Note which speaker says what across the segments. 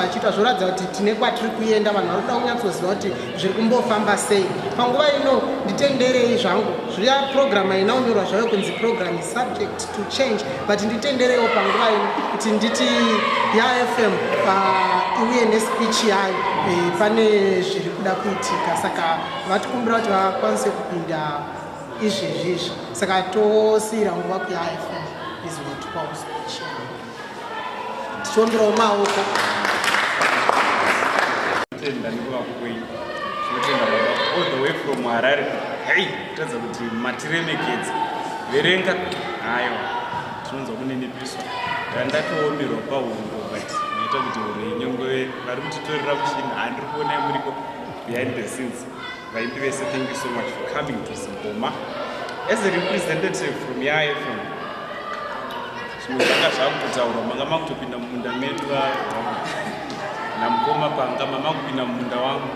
Speaker 1: vachiita zvoratidza kuti tine kwatiri kuenda vanhu vari kuda kunyatsoziva kuti zviri kumbofamba sei panguva ino nditenderei zvangu zviya purogiramu haina kunyorwa zvayo kunzi purogiramu subject to change but nditenderewo panguva ino kuti nditi yafm uh, iuye nespeech yayo eh, pane zviri kuda kuitika saka vatikumbira kuti vakwanise kupinda izvezvi izvi saka tosiira nguva kuyafm izvotwawo speech yayo tichiomberawo maoko tenda nekuvako
Speaker 2: kwenyu tinotenda baba all the way from harare hei kutadza kuti matiremekedza verenga hayo tinonzwa kuninipiswa ndandatoomerwa pahungo but maita kuti huro yenyongove vari kutitorera mushini handiri kuonai muriko behind the scenes vaimbi vese thank you so much for coming to zimboma as a representative from yafm zvimwe zvanga zvakutotaurwa manga makutopinda mumunda medu namukoma panga mama kupinda mumunda wangu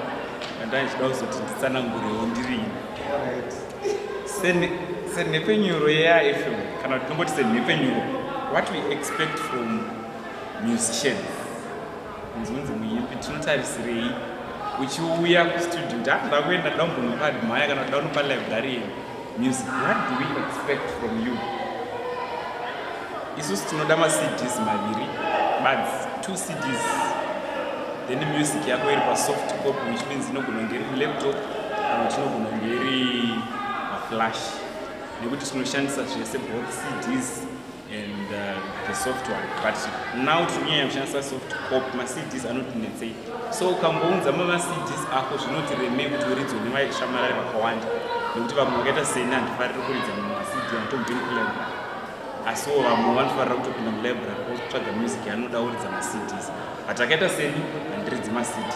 Speaker 2: andaichida kuzoti nditsanangurewo ndirini senhepfenyuro yeafm kana kuti tongoti senhepfenyuro what we expect from musician nzunzi muimbi tinotarisirei uchiuya kustudio ndakuenda daumbonokadmaya kana daunopa librarian Music, what do we expect from you? Isusu tinoda ma CDs maviri, buds, two CDs. Then music yako iri pa soft copy which means inogona kunge iri laptop kana kuti inogona kunge iri ma flash. Nekuti tinoshandisa zvese both CDs. and uh, the soft one but now tinyanya kushandisa soft cop macds anoti netsei so ukambounza mamacds ako zvinoti remei kuti uridzo nevaishamarari vakawanda nekuti vamwe vakaita seni handifariri kuridza mamacd anotobvini kulibrary asiwo vamwe vanofarira kutopinda mulibrary otsvaga music anoda uridza macds but akaita seni handiridzi macds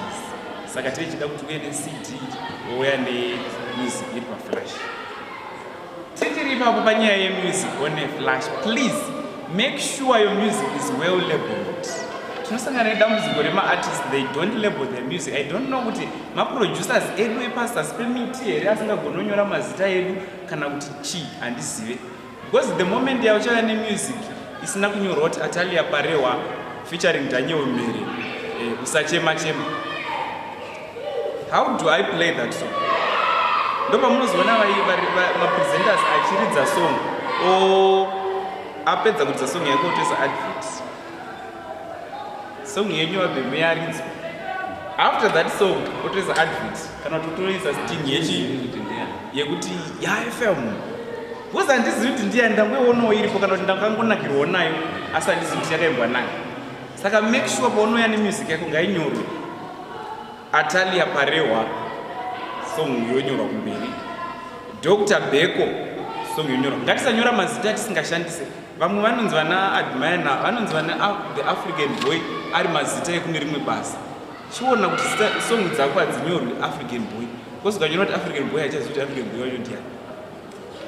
Speaker 2: saka tichida kuti uye necd ouya nemusic iri paflash Tichiri ipapo panyaya yemusic on a flash please make sure your music is well labeled tinosangana nedambudziko remaartist they don't label their music i don't know kuti maproducers edu epasasi pemiti here asingagononyora mazita edu kana kuti chii handizive because the moment yauchava nemusic isina kunyorwa kuti atalia parewa featuring daniel mhere eh, usachema chema, chema. how do i play that song ndopamunozoona mapresenters achiridza song o apedza kuridza song yake otoisa advert song yenyu abhemu yaridzwa after that song otoisa advert kana kuti otoisa sting yechi yekuti yafm bcause handizivi kuti ndiya ndangoionawo iripo kana kuti ndakangonakirwawo nayo asi handizivi kuti yakaimbwa nayo saka make sure paunouya nemusic yako ngainyorwe Atalia Parehwa song yonyorwa kumberi. Dr Beko song yonyorwa. Ngatisanyora mazita tisingashandise. Vamwe vanonzi vana admire na vanonzi vana the African boy ari mazita ekune rimwe basa. Chiona kuti song dzako hadzinyorwi African boy. Kozi ukanyora kuti African boy haichazivi kuti African boy wacho ndiani.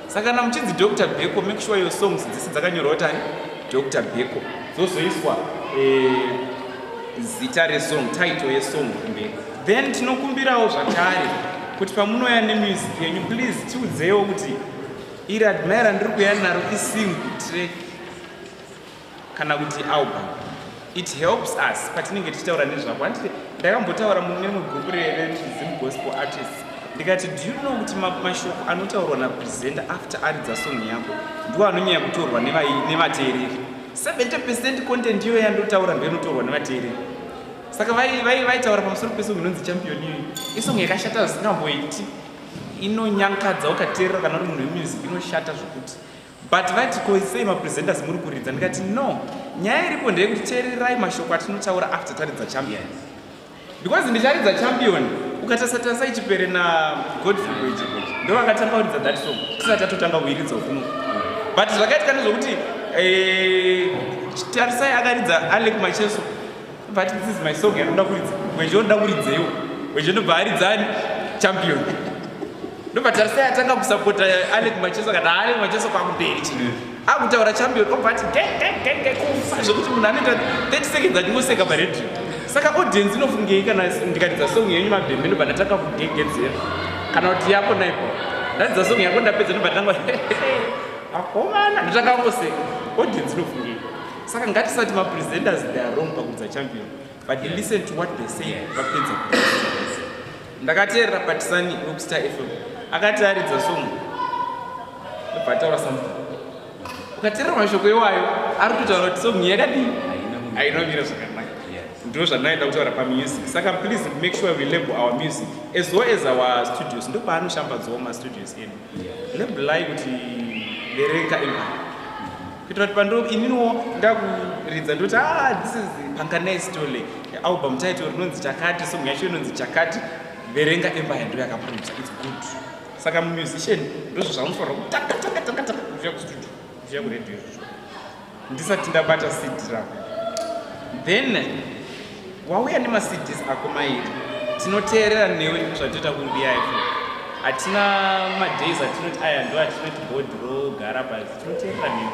Speaker 2: saka kana muchinzi dr beko make sure your songs dzese dzakanyorwa kuti ani dr beko dzozoiswa eh, zita resong title yesong kumberi then tinokumbirawo zvakare kuti pamunouya nemusic yenyu please tiudzewo kuti iri admira ndiri kuya naro isingle track kana kuti album it helps us patinenge tichitaura nezvako handiti ndakambotaura mune mwe group rerezim gospel artists ndikati do you know kuti mashoko anotaurwa napresenta after aridza song yako ndiwo anonyanya kutorwa nevateereri 70 percent content iyo yandotaura ndo inotorwa nevateereri saka vaitaura pamusoro pesong inonzi champion iyo isong yakashata zvisingamboiti inonyankadza ukateerera kana uri munhu wemusic inoshata zvokuti but vati ko sei mapresenters muri kuridza ndikati no nyaya iripo ndeyekuti teererai mashoko atinotaura after taridza champion because ndicharidza champion ukatarisa tarisa ichipere nagodfrey goichi ndovakatanga kuridza that song tisati tatotanga kuiridza kuno but zvakaitika nezvokuti eh, tarisai akaridza alek macheso but this is my song yanoda kuridza mwenje unoda kuridzeiwo mwenje ndobva aridzani champion ndobva tarisai atanga kusapota alec macheso kana alec macheso kwakumberi chi akutaura champion obva ati gegegege kufa zvekuti munhu anoita 30 seconds andingoseka paredio saka audience inofungei kana ndikaridza song yenyu mabhembe ndobva ndatanga kugegedzera kana kuti yako naipo ndaridza song yako ndapedza ndobva ndatanga akomana ndotanga kungoseka audience inofungei saka ngatisati mapresenters they are wrong pakuudza champion but yeah. listen to what they say yeah. vapedza ndakateerera patisani wekustar fm akati aridza song bataura something ukateerera mashoko iwayo ari kutotaura kuti song yakadii ainomira zvakanaka ndo zvandinaenda kutaura pamusic saka please make sure we label our music as well as our studios ndo paanoshambadzawo mastudios enu labelai kuti vereka imari kuitira kuti pando ininiwo ndakuridza ndoti ah this is panganai stole album title rinonzi chakati song yacho inonzi chakati verenga emba yando yakapromisa its good saka mumusician ndozvo zvamufanira kutakatakatakataa kuuya kustudio kuuya kuredio izvozvo ndisati ndabata cd ravo then wauya nemacds ako mairi tinoteerera newe zvatoita kumbiya iko hatina madays atinoti aya ndo atinoti bhodhi rogara basi tinoteerera newe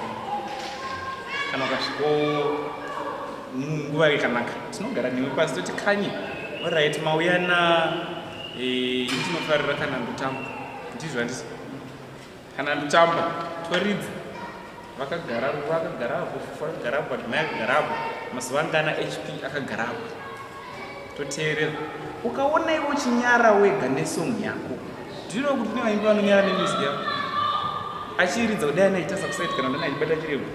Speaker 2: kana ukasviko nguva yakanaka tinogara newe pasi toti kanye orit mauya na eh, tinofarira kana ndotamba ndizvo handisi kana nditamba toridza vakagara ruva akagara apo fufu akagara apo adimai akagara apo mazuva angana hp akagara apo toteerera ukaona iwe uchinyara wega nesong yako ndino kuti ne vaimbi vanonyara nemusic yako achiiridza kudai anaitasa kusaiti kana ndanaibata chirego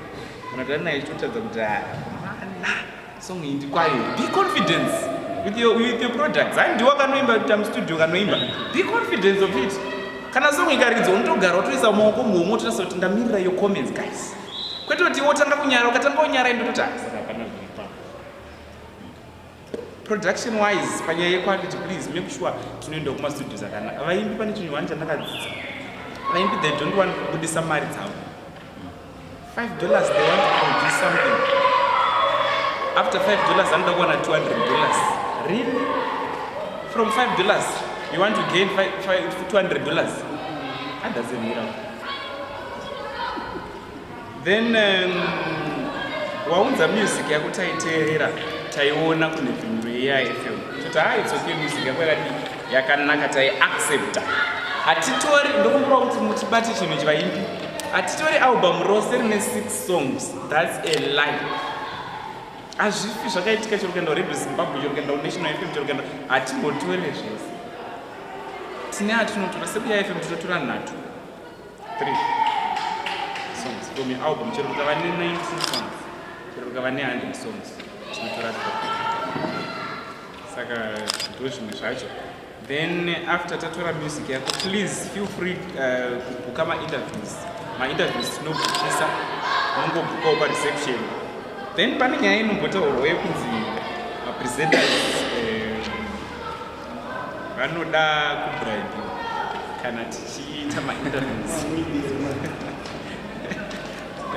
Speaker 2: kana kuti anaitotadza kuti ah, mana song iyi ndikwayo be confidence with your, with your products ai ndiwo kanoimba tam studio kanoimba be confidence of it kana song ikaridzwa unotogara utoisa maoko muhomwe utotarisa kuti ndamirira yo comments guys kwete kuti wotanga kunyara ukatanga unyara indototi asaka hapana zviripa production wise panyaya yequality please make sure tinoenda kumastudio zakanaka vaimbi pane chinhu wani chandakadzidza vaimbi they don't want kubudisa mari dzavo 5 dollars they want to produce something after 5 dollars anoda kuwana 200 dollars really from 5 dollars you want to gain 200 dollars that doesn't mean out then um, waunza music yako taiteerera taiona kune vhindu yeyaifm toti ha ah, it's okay music yako yakadii yakanaka taiaccepta hatitori ndokumbira kuti mutibate chinhu chivaimbi hatitori album rose rine six songs thats a lie hazvifi zvakaitika chero kuenda kuredio zimbabwe chero kuenda kunational fm chero kuenda hatimbotore zvese tine atinotora sekuya fm tinotora nhatu three songs from your album chero kukava ne 19 songs chero kukava ne 100 songs tinotora three saka ndozvimwe zvacho then after tatora music yako please feel free uh, kubhuka mainterviews mainterviews tinobhukisa unongobhukawo pareception then pane nyaya inombotaurwa yekunzi mapresenters eh, vanoda uh, kubribe kana tichiita mainterviews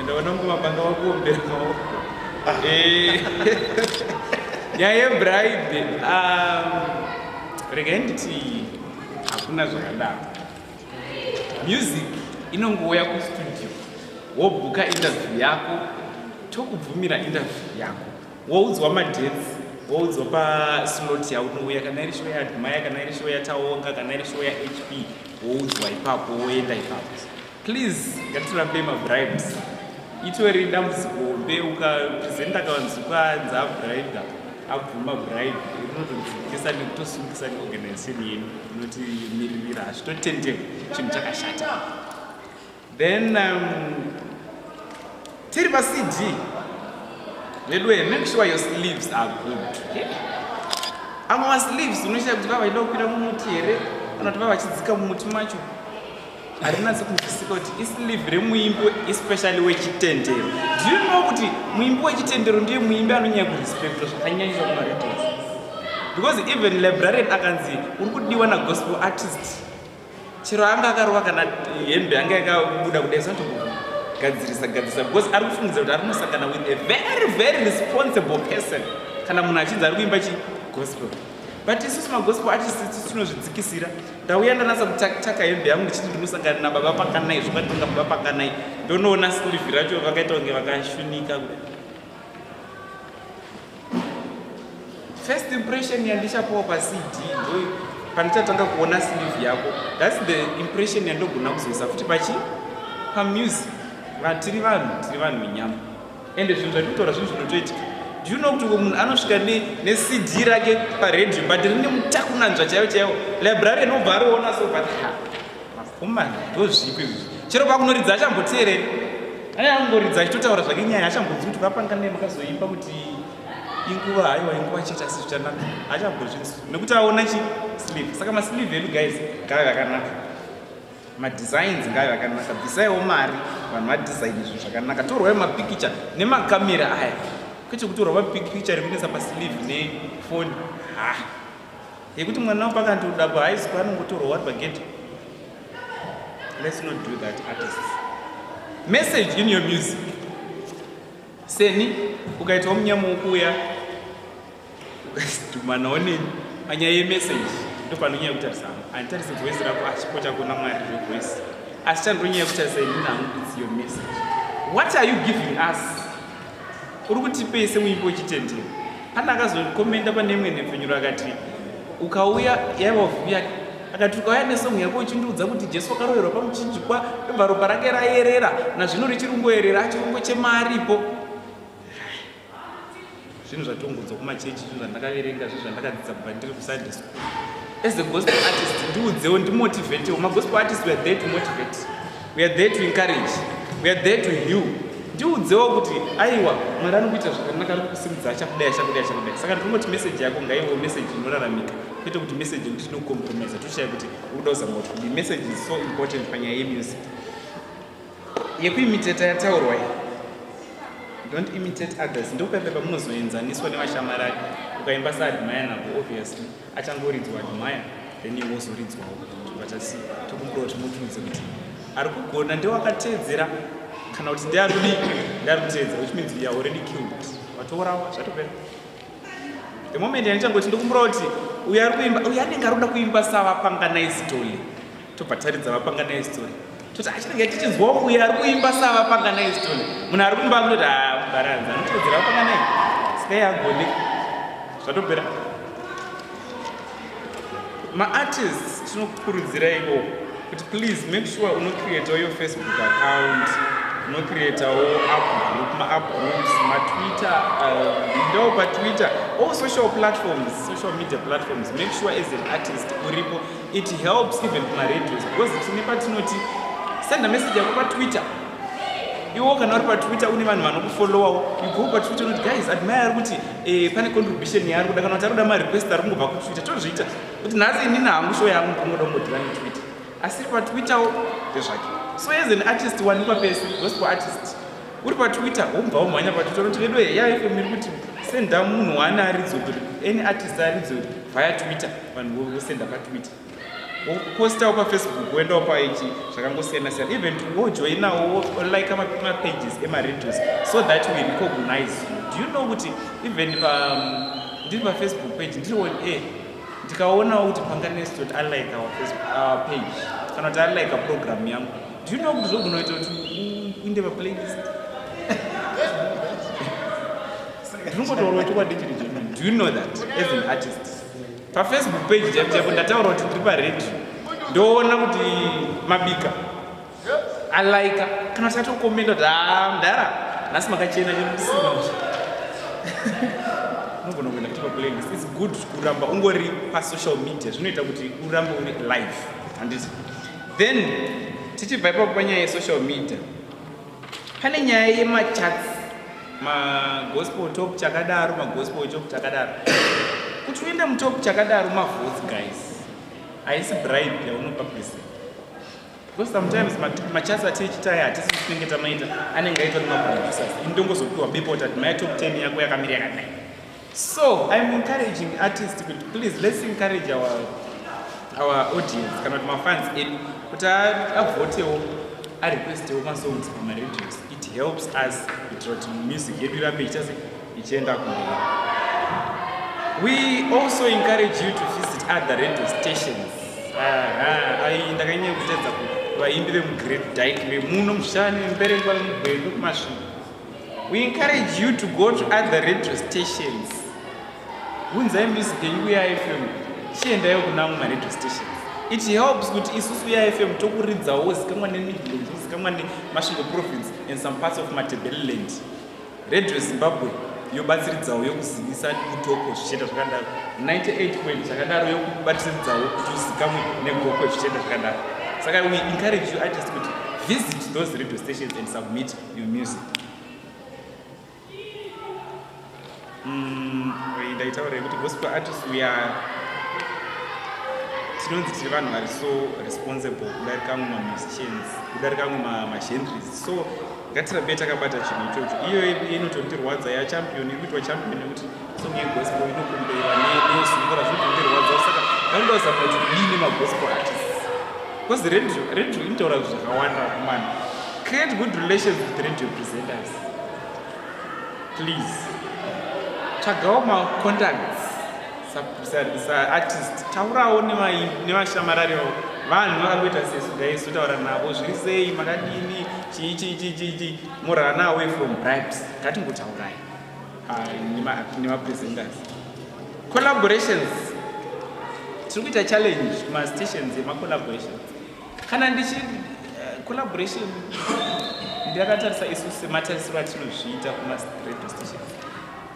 Speaker 2: Enda unongova panga wakuombera maoko. Eh. Yaye bride. Um regai nditi hakuna zvakadaro. Music inongouya kustudio wobhuka interview yako tokubvumira interview yako woudzwa madates woudzwa paslot yaunouya kana iri show yaadmire kana iri show yataonga kana iri show yahp woudzwa ipapo woenda ipapo Please ngatirambe mabribes. Itori dambudziko hombe ukapresenta kavanzi kwanzi abribe abvuma bribe rinotodzikisa nekutosungisa neorganization yenyu inoti miririra hazvitotendeka chinhu chakashata then um, tiri pacd veduwe make sure your sleeves are good amwe masleeves unoshaya kuti vavaida kukwira mumuti here kana kuti vavachidzika mumuti macho harinatsi kunzwisika kuti islive remuimbi especially wechitendero do you know kuti muimbi wechitendero ndiye muimbi anonyaya kurespectwa zvakanyanyisa kumaredios because even librarian akanzi uri kudiwa nagospel artist chero anga akarova kana hembe anga yakabuda kudai sanotogadzirisa gadzirisa because ari kufungidza kuti ari kunosangana with a very very responsible person kana munhu achinzi ari kuimba chigospel but isusu magospel artist tinozvidzikisira Ndauya ndanasa kuchaka hembe yangu ndichiti ndinosangana nababa pakanai zvakatonga baba pakanai ndonoona slivi racho vakaita kunge vakashunika kuda first impression yandichapuwa pacd ndoyo pandichatanga kuona slivi yako thats the impression yandogona kuzoisa futi pachi pamusic vatiri vanhu tiri vanhu venyama ende zvinhu zvatitotaura zvinhu zvinotoitika do you know kuti munhu anosvika necd rake paradio but rine mutakunanzva chaivo chaivo library anobva ariona so but makomana ndozvipi izvi chero pakunoridza achamboteereri aya angoridza achitotaura zvake nyaya achambodzi kuti vapanga nei makazoimba kuti inguva haiwa inguva chete asi zvichanaka achambozvinzi nekuti aona chi sleeve saka masleeve edu guys kave kakanaka madesigns ngayo akanaka bvisaiwo mari vanhu vadesign zvinhu zvakanaka torwayo mapikicha nemakamera aya kwete kutorwa mapikicha rekunetsa paslive nefoni ha yekuti mwana wo pakandodabwa haisi kwanongotorwa wari pagedhe let's not do that artist message in your music seni ukaitawo munyama wokuuya Dumana one panyaya yemessage ndopanonyanya kutarisa hangu handitarise voice rako achipota kuona mwari revoice asi chandonyanya kutarisa inini hangu its your message what are you giving us uri kutipei semuimbi wechitendero pane akazokomenda pane imwe nhepfenyuro akati ukauya yaiva vhuya akati ukauya nesong yako uchindiudza kuti jesu wakaroverwa pamuchinjikwa ndobva ropa rake rayerera nazvino richiri kungoyerera chirungo chemaripo zvinhu zvatongodzwa kumachechi zvinhu zvandakaverenga zvinhu zvandakadzidza kubva ndiri kusunday school as a gospel artist ndiudzewo ndimotivatewo magospel artist weare there to motivate weare there to encourage weare there to heal ndiudzewo kuti aiwa mwari ari kuita zvakanaka ari kusimudza achakudai achakudai achakudai saka ndinongoti meseji yako ngaiwo meseji inoraramika kwete kuti meseji yekuti tinocompromisa toshaya kuti uri kuda kuzama kuti meseji is so important panyaya yemusic yekuimiteta yataurwa iyi don't imitate others ndopepe pamunozoenzaniswa nevashamarari ukaimba saadmire navo obviously achangoridzwa admire then iwe wozoridzwawo vatasi tokumbira kuti mutiudze kuti ari kugona ndewakateedzera kana kuti ndeari kudi ndeari kuteedzera which means youare already killed vatourawa zvatopera the moment yanichangoti ndokumbira kuti uyo ari kuimba uyo anenge ari kuda kuimba savapanganaizi toli tobva taridza vapanganai story toti achinenge tichinzwa uyo ari kuimba savapanganai story munhu ari kumba kunoti abaranza ah, anotevedzera vapanganai sikai agone zvatopera maartists tinokukurudziraiko kuti please make sure unocreatawo your facebook account unocreatawo upgroup maupgroups matwitter uh, ndo patwitter all social platforms social media platforms make sure as an artist uripo It helps even kuma radios because tine patinoti send a message yako pa Twitter. Iwo kana uri pa Twitter une vanhu vanokufollowawo, you go pa Twitter unoti guys admire ari kuti eh pane contribution yaari kuda kana kuti ari kuda ma request ari kungobva ku Twitter tozviita. Kuti nhasi inini hangu show yangu ndinoda kungodira ne Twitter. Asi pa Twitter wo ndezvake. So as an artist wanikwa pese, gospel artist. uri patwitter wobva womhanya patwitter unoti vedu heya ife miri kuti senda munhu waani aridzo kuti any artist aridzo vaya twitter vanhu vosenda patwitter wopostawo pafacebook woendawo paichi zvakangosiyana siyana even wojoinawo wolike mapages emaradios so that we recognize you do you know kuti even pa ndiri pafacebook page ndiri on air ndikaonawo kuti panganestoti alike our facebook our page kana kuti alike program yangu Do you know kuti zvogona kuita kuti uinde paplaylist? Ndinototaura chokwadi chiri chemene. Do you know that as an artist? PaFacebook page chaipo chaipo ndataura kuti ndiri paredio ndoona kuti mabika alaika kana kuti atokomenda kuti haa mdara nhasi makachena chemusina unogona kuenda kuti paplaylist its good kuramba ungori pasocial media zvinoita kuti urambe uri live handiti then tichibva ipapo panyaya yesocial media pane nyaya yemachats magospel top chakadaro magospel top chakadaro kuti uenda mutop chakadaro mavotes guys haisi bribe yaunopa present because sometimes machats atiichitaya hatisi tinenge tamaita anenge aitwa nemaproducers ini ndongozopiwa bepo tati maya top 10 yako yakamiri yakadai So I'm encouraging artists kuti please let's encourage our, our audience kana kuti mafans edu kuti avotewo arequestewo masongs pamaradios it helps us kuitira kuti music yedu irambe ichase ichienda kumberi we also encourage you to visit other radio stations ndakanyanya kutedza vaimbi vemugreat dyke vemuno mushani mberengwa vemugwendu kumasviko We encourage you to go to other radio stations. Unzai music yenyu kuya FM. Chiendaiwo kuna mumwe radio stations. It helps kuti isusu ya FM tokuridzawo zikamwa ne Midlands, zikamwa ne Masvingo province and some parts of Matabeleland. Radio Zimbabwe yobatsiridzawo yokuzivisa kutoko zvichienda zvakadaro. 98 point chakadaro yokubatsiridzawo kuti uzikamwe negoko zvichienda zvakadaro. Saka we encourage you artists kuti visit those radio stations and submit your music mm, ndaitaura yekuti gospel artist we are tinonzi tiri vanhu vari so responsible kudarika amwe mamusicians kudarika amwe magendries so ngatirambe takabata chinhu ichocho iyoyo inotondirwadza yachampion iri kuitwa champion nekuti Song yegospel inokumbira nezwi ngora zvinondirwadza saka vanenge vazama kuti kudini magospel artists because radio radio inotaura zvakawanda kumana create good relations with radio presenters please tsvagawo macontacts saartist taurawo nevashamarari avo vanhu vakangoita sesu dai sotaura navo zviri sei makadini chii chii chii chii chii morana away from bribes ngatingotaurai nemapresenters collaborations tiri kuita challenge kumastations emacollaborations kana ndichi eh, collaboration ndiyakatarisa isu sematarisiro atinozviita kumaradio stations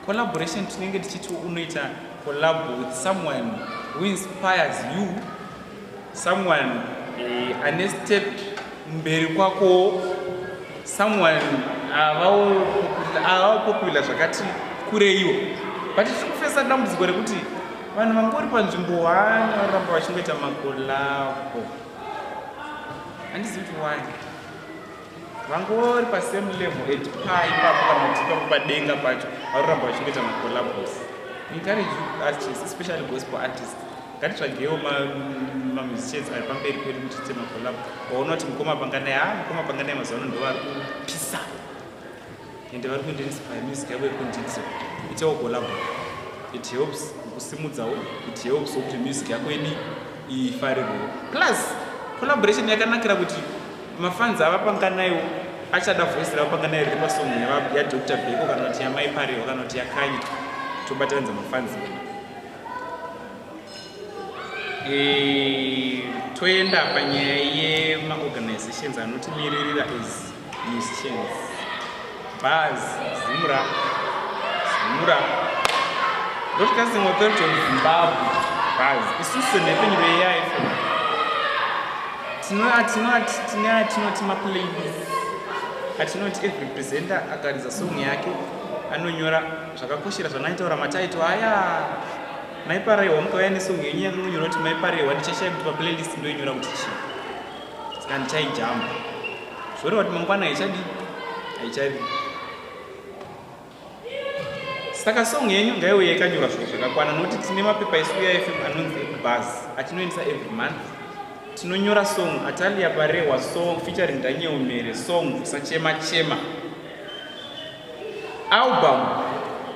Speaker 2: collaboration tinenge tichiti unoita collab with someone who inspires you someone eh, ane step mberi kwako someone avawo avawo popular zvakati kureiwo but tiri kufesa dambudziko rekuti vanhu vangori panzvimbo wani vanoramba vachingoita makolabo handizivi kuti wani vangori pasame level at pa ipapo kana kuti ipapo padenga pacho varoramba vachingoita macollabos encourage artists especially gospel artists ngatitsvagewo mamusicians ari pamberi kwedu kuti tiite macollabo waona kuti mukoma panganai ha ah, mukoma panganai mazuva ano ndovari kupisa ende vari kuita inspire music yavo yekundidzo itawo collabo it helps kusimudzawo it helps kuti music yako ini ifarirwewo plus collaboration yakanakira kuti mafans avapanga nayo achada voice ravapanga nayo riri pasong yadr beko kana kuti yamai pariwo kana kuti yakanyi tobataranza mafans Eh, toenda panyaya yemaorganizations anotimirira as musicians bas zimura zimura broadcasting authority of zimbabwe bas isusu senhepfenyuro yeyaifo tinoti maplays atinoti every presenter akaridza song yake anonyora zvakakoshera zvanaitaura mataito aya Mai Parehwa mukauya nesong yenyu yanga munyora kuti Mai Parehwa ndichashaya kuti paplaylist ndoinyora kuti chii saka ndichaijamba zvoreva kuti mangwana haichadi haichadi saka song yenyu ngaiuye yakanyora zviro zvakakwana nokuti tine mapepa isu uifm anonzi ekubhaz atinoendesa every month tinonyora song atalia parehwa song featuring daniel mere song usachema chema, chema. Album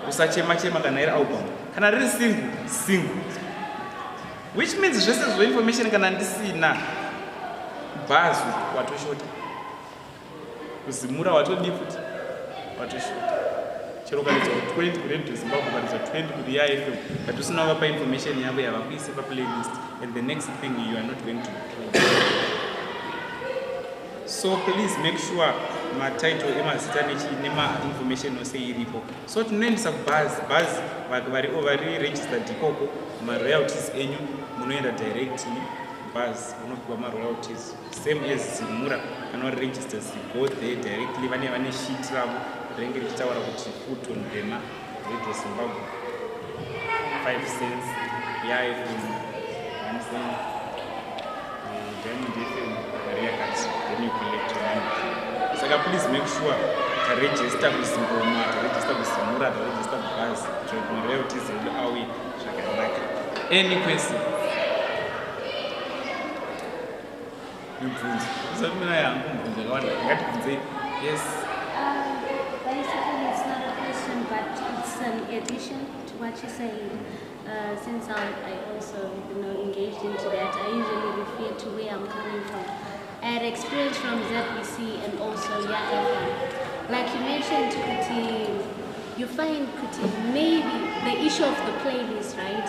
Speaker 2: usachema chema kana iri album kana riri single single which means zvese zvo information kana ndisina bhazu watoshota kuzimura watodii futi watoshota chero ukaridza 20 kuredio zimbabwe ukaridza 20 kuri yafm but usina vapa information yavo yavakuise paplaylist and the next thing you are not going to so please make sure matitle emazita nemainformation ose iripo so tinoendesa kubhazi bhazi vari vari registered ikoko maroyalties enyu munoenda direct bhazi unopiwa maroyalties same as zimura kana vari registers go there directly vane vane shit ravo rinenge richitaura kuti food on thema Radio Zimbabwe 5 cents live in Amazon Diamond FM Maria Kati then you collect your money saka please make sure to register ku Zimboma to register ku Zimura to register ku Buzz to Maria Kati Zulu awi zvakanaka any question mibvunzo zvisati mina yangu
Speaker 3: mibvunzo yakawanda ngatibvunzei yes what you're saying, uh, since I, I also you know, engaged into that, I usually refer to where I'm coming from. I had experience from ZBC and also Yagafa. Like you mentioned, Kuti, you find Kuti, maybe the issue of the playlist, right?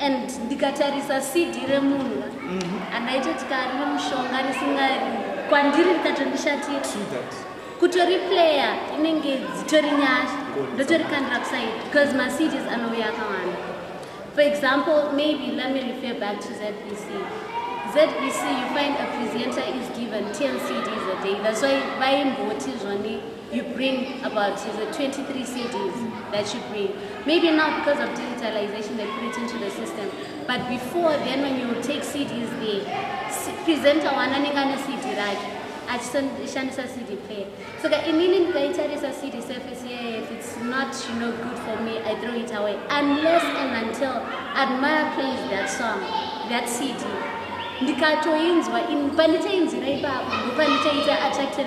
Speaker 3: and ndikatarisa cd remunhu mhm. andaitoti kari nemushonga risinga kwandiri rikatondishatira kutori playa inenge dzitori nyasha ndotorikandira kusaidi because macities anouya akawanda for example maybe let me refer back to zbc zbc you find a presenter is given 10 cds a day that's why vaimboti zvoni you bring about is a 23 CDs that you bring. Maybe now because of digitalization they put it into the system. But before then when you take CDs there, presenter one anenge ane CD rake achishandisa CD player. So ka inini ndikaitarisa CD surface yeah, if it's not you know good for me I throw it away unless and until Admire plays that song, that CD. ndikatoinzwa panditainzira ipapo ndopandichaita attracted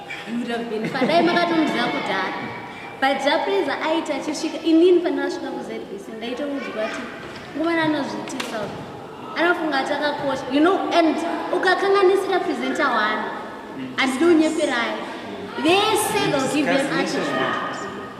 Speaker 3: padai makatomuziva kudhara but japreza aiti achisvika inini pandakasvika kuzbc ndaitoudzwa ti nguvana anozviitisa anofunga ati akakosha you know and ukakanganisira presenta wani handidi unyeperai vese they'll give them attitude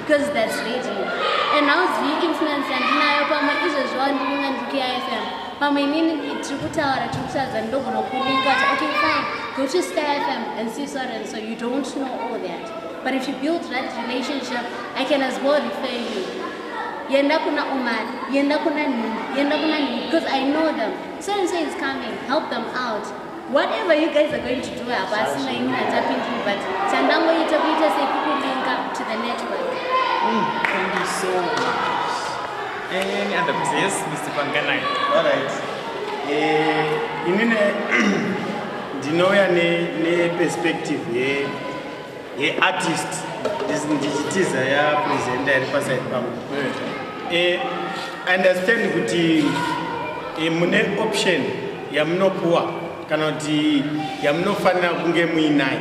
Speaker 3: because that's radio and hauzivi influence yandinayo pamwe izvezvi wandinonga ndiri kufm pamwe inini tiri kutaura tiri kutaridza ndogona kulinga kuti okay fine go to sky fm and see so and so you don't know all that but if you build that relationship i can as well refer you yenda kuna umar yenda kuna nini yenda kuna nini because i know them so and so is coming help them out whatever you guys are going to do hapasina ini natapindi but chandangoita kuita sekukulinka to the network mm, thank
Speaker 2: you so much any other question yes mr panganai all right eh
Speaker 4: inine ndinouya ne ne perspective ye ye artist ndichitiza ya presenta iri paside pangu eh, i understand kuti eh, mune option yamunopuwa kana kuti yamunofanira kunge muinayo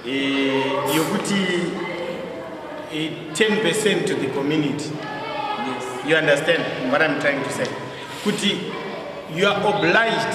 Speaker 4: eh, yokuti 10 percent to the community
Speaker 2: you understand
Speaker 4: what i'm trying to say kuti you are obliged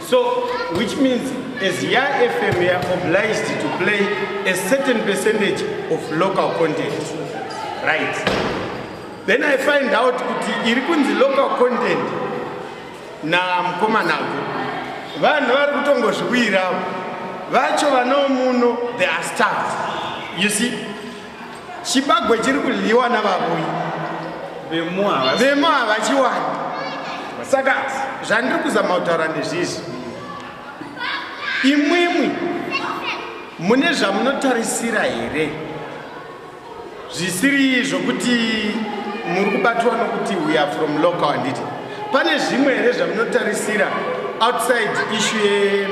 Speaker 4: So, which means as Ya FM, we are obliged to play a certain percentage of local content. Right. Then I find out kuti iri kunzi local content na mkoma nago. Vanhu vari kutongozviwira vacho vanomuno they are staff. You see? chibagwe chiri kudyiwa navavuyi vemo havachiwani saka zvandiri kuzama kutaura ndezvizvi imwimwi mune zvamunotarisira here zvisiri zvokuti muri kubatwa nokuti we are from local handiti pane zvimwe here zvamunotarisira outside issue ye,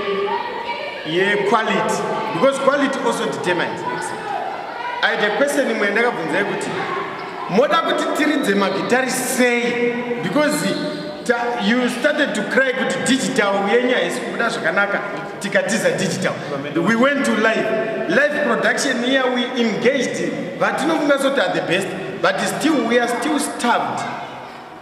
Speaker 4: ye quality because quality also determines i had a question imwe yandakabvunzai kuti moda kuti tiridze magitari sei because ta, you started to cry kuti digital yenyu haisi kubuda zvakanaka tikatiza digital we went to live live production here we engaged vatinofunga soti are the best but still we are still starved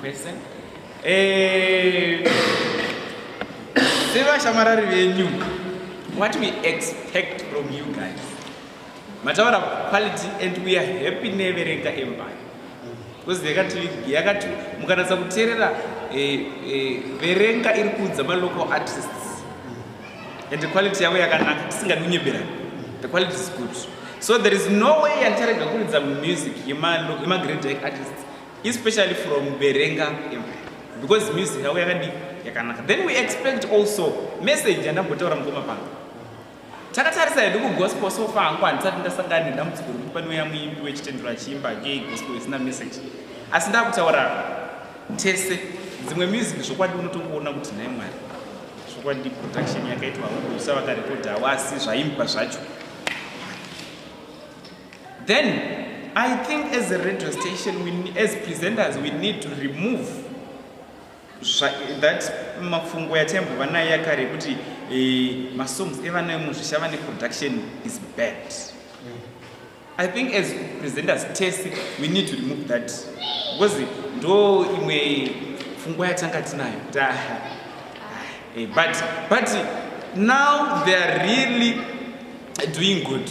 Speaker 2: kwese eh, sevashamarari venyu what we expect from you guys mataura quality and we are happy neverenga empire because yakati mukanatsa kuteerera eh, eh, verenga iri kuudza malocal artists and quality yavo yakanaka tisingadunyebera the quality is good so there is no way yatarega kuridza music yemagreat artists especially from berenga because music yavo yakadii yakanaka then we expect also message yandambotaura mukoma pano takatarisa hedu kugospel so far hangu handisati ndasangana nedambudziko rekuti panouya muimbi wechitendero achiimba ye gospel isina message asi ndakutaura tese dzimwe music zvokwadi unotongoona kuti nhai mwari zvokwadi production yakaitwa usa vakarekodhawo asi zvaimba zvacho Then I think as a radio station, we, as presenters, we need to remove that mafungo yataimbova nayo yakare yekuti eh, masongs evana emuzvisha vane production is bad. Mm. I think as presenters tese, we need to remove that. Because ndo imwe fungo yatanga tinayo. Eh, but, but now they are really doing good.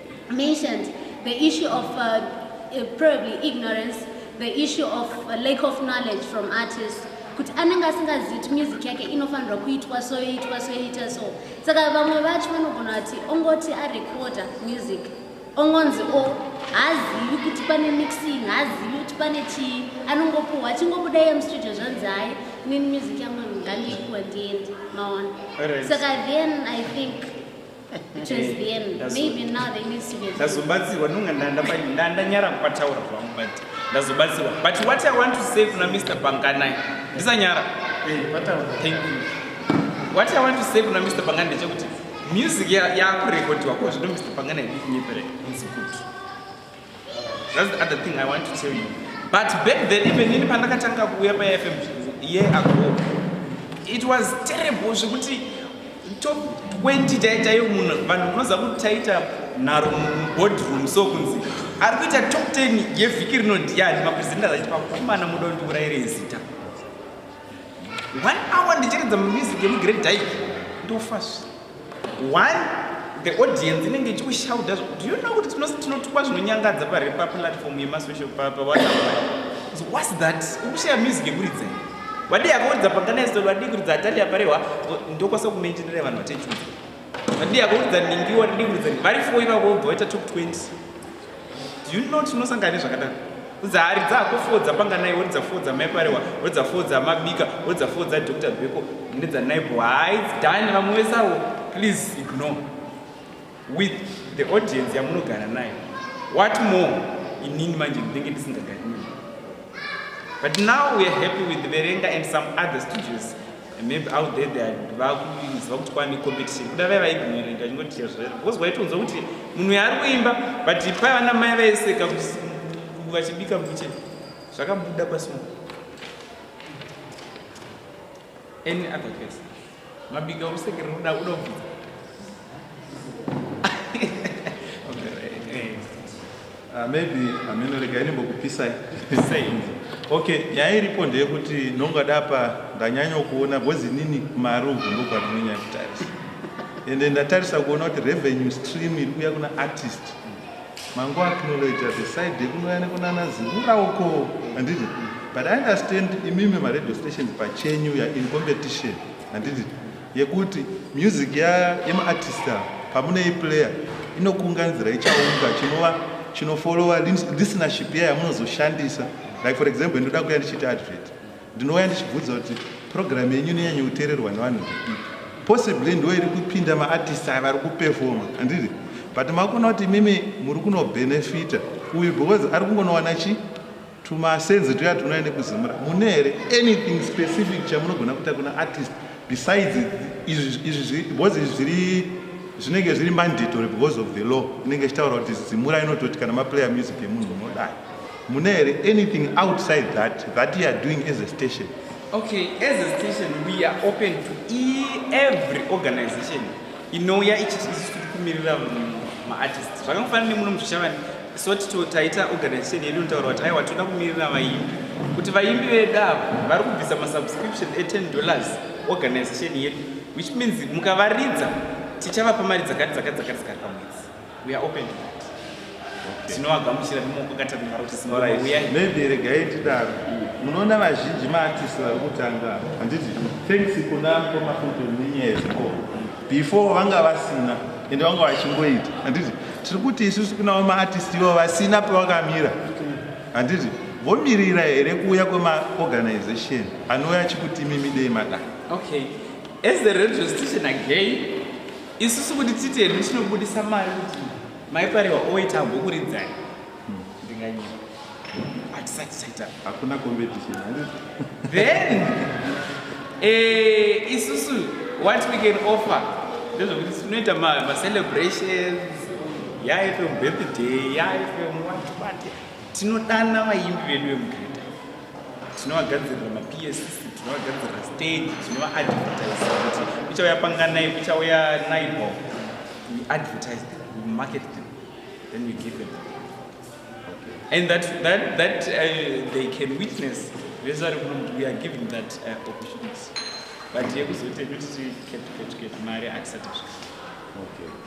Speaker 3: mentioned the issue of uh, uh, probably ignorance the issue of uh, lack of knowledge from artists kuti anenge asingazivi kuti music yake inofanirwa kuitwa so yoitwa so yoita so saka vamwe vacho vanogona kuti ongoti arecorda music ongonzi o oh, haazivi kuti pane mixing haazivi kuti pane chii anongopuhwa achingobuda iye mustudio zvanzi hayi nini music yangu ngandiipuwa ndiende maona saka then i think ndazobatsirwa nonga
Speaker 2: ndandanyara kupataura zvangu but ndazobatsirwa but what i want to say kuna mr banganai ndisanyara eh, thank you what i want to say kuna mr bangani ndechekuti music yakurekodhiwa ko zvino mr bangani haidi kunyeperei inzi kuti That's the other thing I want to tell you. But back then even in pandakatanga kuuya pa FM year ago, it was terrible zvekuti top 20 taitayo munhu vanhu munoziva kuti taita nharo muboardroom so kunzi ari kuita top 10 yevhiki rino ndiyani mapresenters achiti pakomana muda kuti ndiurayire zita one hour ndichiridza mamusic emugrade dyke ndofasvi one the audience inenge ichikushauda do you know kuti tinotukwa zvinonyangadza parepaplatform yemasocial papa what's that ukushaya music yekuridza vadii akakuridza panganaiso vadii kuridza atali aparehwa ndokwasa kumenjenera vanhu vatechuza vadii akakuridza ningiwa vadii kuridza vari fo ivavo vobva vaita top 20 Do you know tinosangana nezvakadaro kudza hari dzako foo dzapanganai woridza foo dzamaiparewa woridza foo dzamabika woridza foo dzadr beko nedzanaibo hai dani vamwe vesawo please ignore with the audience yamunogara nayo what more inini manje ndinenge ndisingagari but now weare happy with verenga and some other studios maybe out there they vakuziva kuti kwane competition kuda vaya vaignoringa chingoti chezvera because waitonzwa kuti munhu yaari kuimba but paiva namai vaiseka kuti vachibika mukichen zvakabuda pasimo any other case mabika usekere uda uda kubvisa
Speaker 5: Uh, maybe hameno rega inimbokupisai okay nyaya iripo ndeyekuti ndongada apa ndanyanya kuona bhozi nini kumaruvhu ndobva ndinonyanya kutarisa ende ndatarisa kuona kuti revenue stream iri kuya kuna artist mango acknowledge the side yekunouya nekunana zivura uko handiti but i understand imimi maradio stations pachenyu ya in competition handiti yekuti music yemaartist pamunoiplayer inokunganzira ichaunga chinova chinofollowa listenership iya yamunozoshandisa like for example ndinoda kuya ndichiita advert ndinouya ndichibvudza kuti program yenyu inonyanya kuteererwa nevanhu veipi possibly ndo iri kupinda maartist aya vari kupefoma handidi but makuona kuti imimi muri kunobhenefita uyu because ari kungonowana chii Tumasenzi tuya tunouya nekuzimura mune here anything specific chamunogona kuita kuna artist besides izvi because izvi zviri zvinenge zviri mandatory because of the law inenge ichitaura kuti zimura inototi kana maplayer music yemunhu unodai mune here anything outside that that youare doing as a station okay as
Speaker 2: a station we are open to e every organization inouya ichiti isu tiri kumirira maartist zvakangofanira nemuno muzvishavani so tito taita organization yedu inotaura kuti aiwa toda kumirira vaimbi kuti vaimbi vedu avo vari kubvisa masubscription e10 dollars organization yedu which means mukavaridza tichavapa mari dzakati dzakati dzakati dzakati pamwedzi We are open to that. Okay. Tinovagamuchira nemoko katanhara
Speaker 5: kuti singoma right. uyai. Maybe regai tidaro. Munoona vazhinji maartist vari kutanga handiti thanks kuna mkoma futi nenyaya yezvikoro before vanga vasina ende vanga vachingoita handiti tiri kuti isusu kunawo maartist ivo vasina pevakamira handiti vomirira here kuuya kwemaorganization anouya achikuti mimidei madai okay
Speaker 2: as the radio station again isusu kuti tite hedu tinobudisa mari kuti maipariwa oita ambokuridzai ndinganyiwa hatisati taita hakuna competition
Speaker 5: then
Speaker 2: eh, isusu what we can offer ndezvokuti tinoita macelebrations yaifm birthday yaifm watwate tinodana vaimbi vedu vemugreta tinovagadzirira maps tinovagadzirira stage tinovaadvertise kuti kuchauya panganai kuchauya naibo we advertise them we market them then we give them and that, that, that uh, they can witness vese vari kuno kuti we are giving that uh, opportunity but yekuzoti kuti ketuketuketi mari atisati zvika okay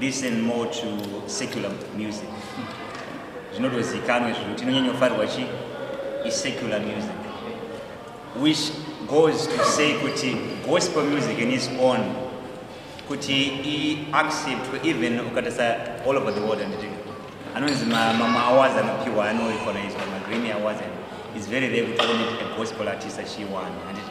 Speaker 6: listen more to secular music zvinotozikanwe zvino tinonyanyofarirwa chi isecular music which goes to say kuti gospel music in its own kuti iacceptwe even ukatasa all over the world anditi anonzi mamwe awards anopiwa anoikonaidzwa magrammy awards and its very rare kuti one a gospel artist achiwana anditi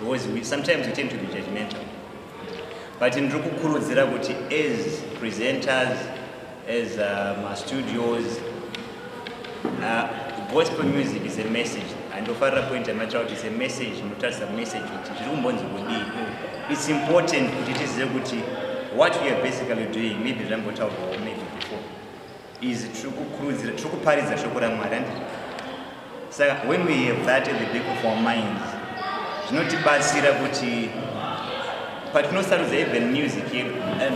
Speaker 6: because we, sometimes we tend to be judgmental but ndiri kukurudzira kuti as presenters as uh, mastudios uh, gospel music is a message andofarira point yamatsva kuti is a message inotarisa message kuti zviri kumbonzi kudii it's important kuti tizive kuti what we are basically doing maybe zvambotaurwawo maybe before izvi tiri kukurudzira tiri kuparidza shoko ramwari and saka when we have that at the back of our minds zvinotibatsira kuti patinosarudza even music yedu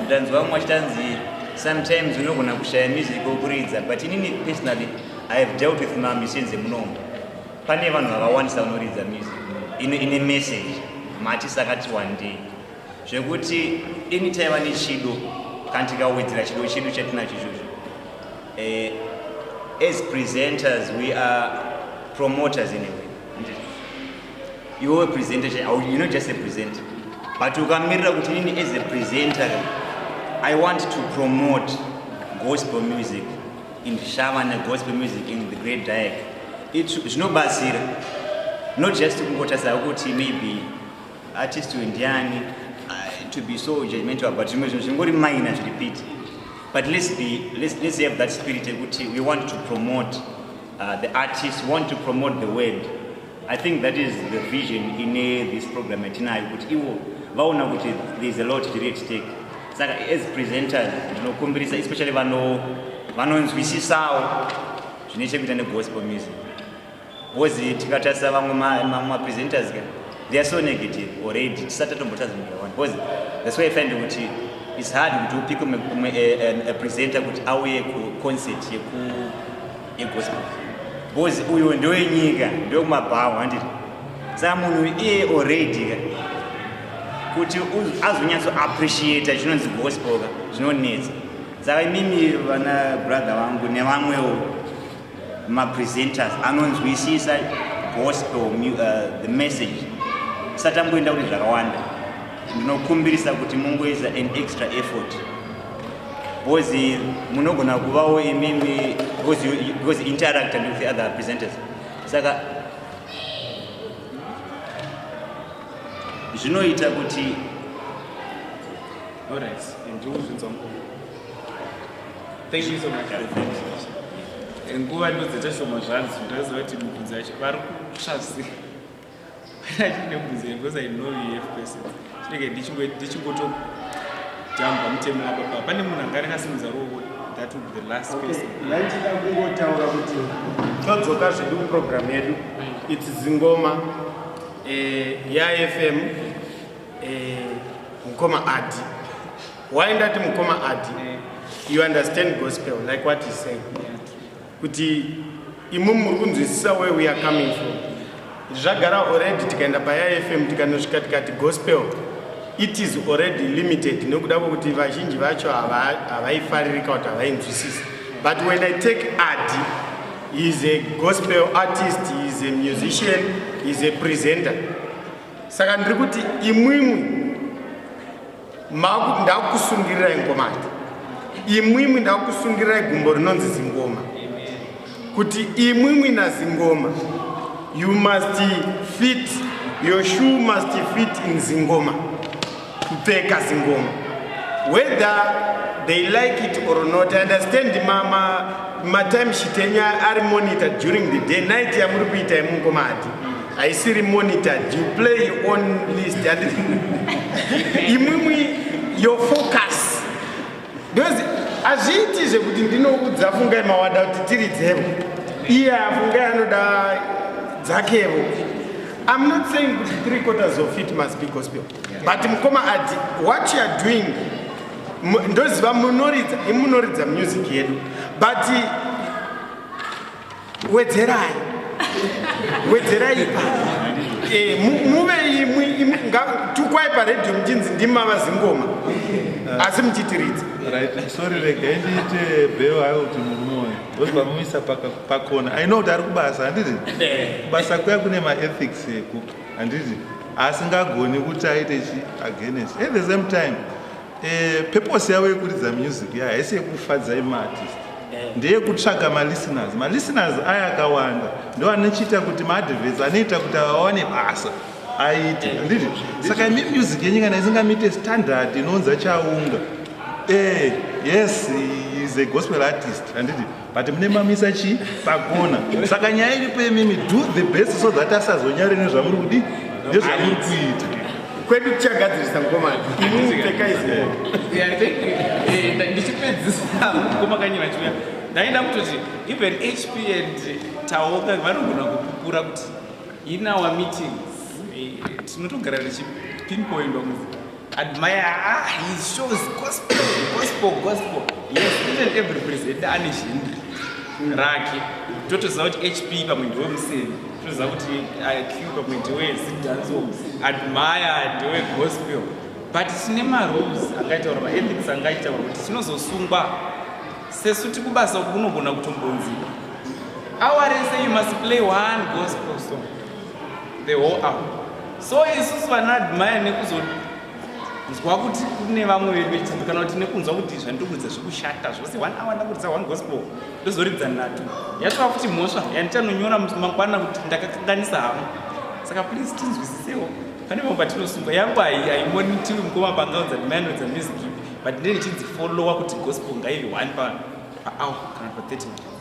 Speaker 6: ndanzwa vamwe vachitanzi sometimes unogona kushaya music okuridza but inini personally i have dealt with mamisins emunomo pane vanhu vakawandisa vanoridza music ine message mati sakati wandei zvekuti deni taiva nechido kana tikawedzera chido chedu chatinacho izvozvo eh, as presenters we are promoters in a way iwewe presenter you know just a presenter but ukamirira kuti nini as a presenter i want to promote gospel music in shava negospel music in the great diac zvinobatsira not just kungotarisao kuti maybe artist uyu ndiani uh, to be so judgmental about zvimwe zvinhu zvingori minor zviri piti but let's be let's, let's have that spirit yekuti we want to promote uh, the artist we want to promote the word i think that is the vision ine this program yatinayo kuti iwo vaona kuti there is a lot chiri at stake saka as presenters ndinokumbirisa especially vanonzwisisawo zvine chekuita negospel music Bozi tikatarisa vamwe mapresenters ka they are so negative already tisati tatombotadza nyika one because that's why i find kuti it's hard kuti upike umwe eh, eh, presenter kuti auye kuconcert yegospel because uyo ndowenyika ndokumabhawa handiti saka munhu iye already ka kuti azonyatso appreciata chinonzi gospel ka zvinonetsa saka imimi vana brother vangu nevamwewo mapresenters anonzwisisa gospel uh, the message satamboenda kuti zvakawanda ndinokumbirisa kuti mungoisa an extra effort bcause munogona kuvawo imimi bcause interacta with the other presenters saka zvinoita kuti
Speaker 2: All right. Thank you so much. Nguva ndodzeta shoma zvanzi ndozova kuti mubvunzo yacho vari kutsvasi achine mubvunzo yacho because I know you have person chinenge ndichingoto jamba mutemo wababa pane munhu anga akasimudza ruoko that would be the last person ndaichida kungotaura
Speaker 4: kuti todzoka zvedu kuprogramu yedu its zingoma eh, yafm eh, mukoma adi why ndati mukoma adi you understand gospel like what he said kuti imu muri kunzwisisa where we are coming from zvagara already tikaenda payafm tikanosvika tikati gospel it is already limited nokuda kwokuti vazhinji vacho havaifaririka kuti havainzwisisi but when i take adi he is a gospel artist he is a musician he is a presenter saka ndiri kuti imwimwi ndakusungirirai ngoma ati imwimwi ndakusungirirai gumbo rinonzi zingoma kuti imwimwi nazingoma you must fit your shoe must fit in zingoma kupfeka zingoma whether they like it or not i understand mama matime shitenya ari monitor during the day night yamuri kuita yemungoma hati haisiri monitored you play on list and imwimwi your focus because hazviiti zvekuti ndinoudza fungai mawada kuti tiri dzevo iye afungai anoda dzakevo i'm not saying kuti three quarters of it must be gospel but mukoma adi what you are doing ndoziva munoridza imunoridza music yedu but wedzerai wedzerai ipa eh, muve imwi tukwai paredhio muchinzi ndimava zingoma asi muchitiridza sorry
Speaker 5: regai ndiite bheo hayo kuti murume uyu ndozva muisa pakona i know kuti ari kubasa handiti eh. kubasa kuya kune maethics eko handiti asingagoni kuti aite chi against at the same time eh, purpose yavo yekuridza music ya haisi yekufadzai maartist eh. ndeyekutsvaga malisteners malisteners aya akawanda ndo anochiita kuti maadverts anoita kuti avawane basa aite eh. handiti saka imi music yenyu kana isingamite standard inounza chaunga eh, yes is a gospel artist handiti but mune mamisa chii pakona saka nyaya iripo imimi do the best so that asazonyare nezvamuri kudi nezvamuri kuita kwedu
Speaker 4: tichagadzirisa mukomana
Speaker 2: ndichipedzisa mukomakanyi vachiuya ndaenda kutoti even hp and taoka vanogona kupupura kuti in our meetings eh, tinotogara tichipinpoindwa mu Admire, ah, he shows gospel, gospel, gospel. Yes, even every president ane zhindri rake. Totoziva kuti HP pamwe ndiwe museni. Totoziva kuti IQ pamwe ndiwe zidanzo. Admire ndiwe gospel. But tine marules angaitaura maethics angaitaura kuti tinozosungwa sesu tikubasa uku kunogona kutombonziwa. Our race you must play one gospel song. the whole hour so isusu vanaadmire nekuzonzwa kuti kune vamwe vedu vechitatu kana kuti nekunzwa kuti zvandirikuridza zvekushata zvose one hour ndakuridza one gospel ndozoridza nhatu yatova kuti mhosva yandichanonyora mangwana kuti ndakakanganisa hama saka please tinzwisisewo pane vamwe patinosungwa yangu haimonitiwi mukoma pangaudza ndimayanodza music but ndine ndichinzi followa kuti gospel ngaive one pahour kana pa 30 minutes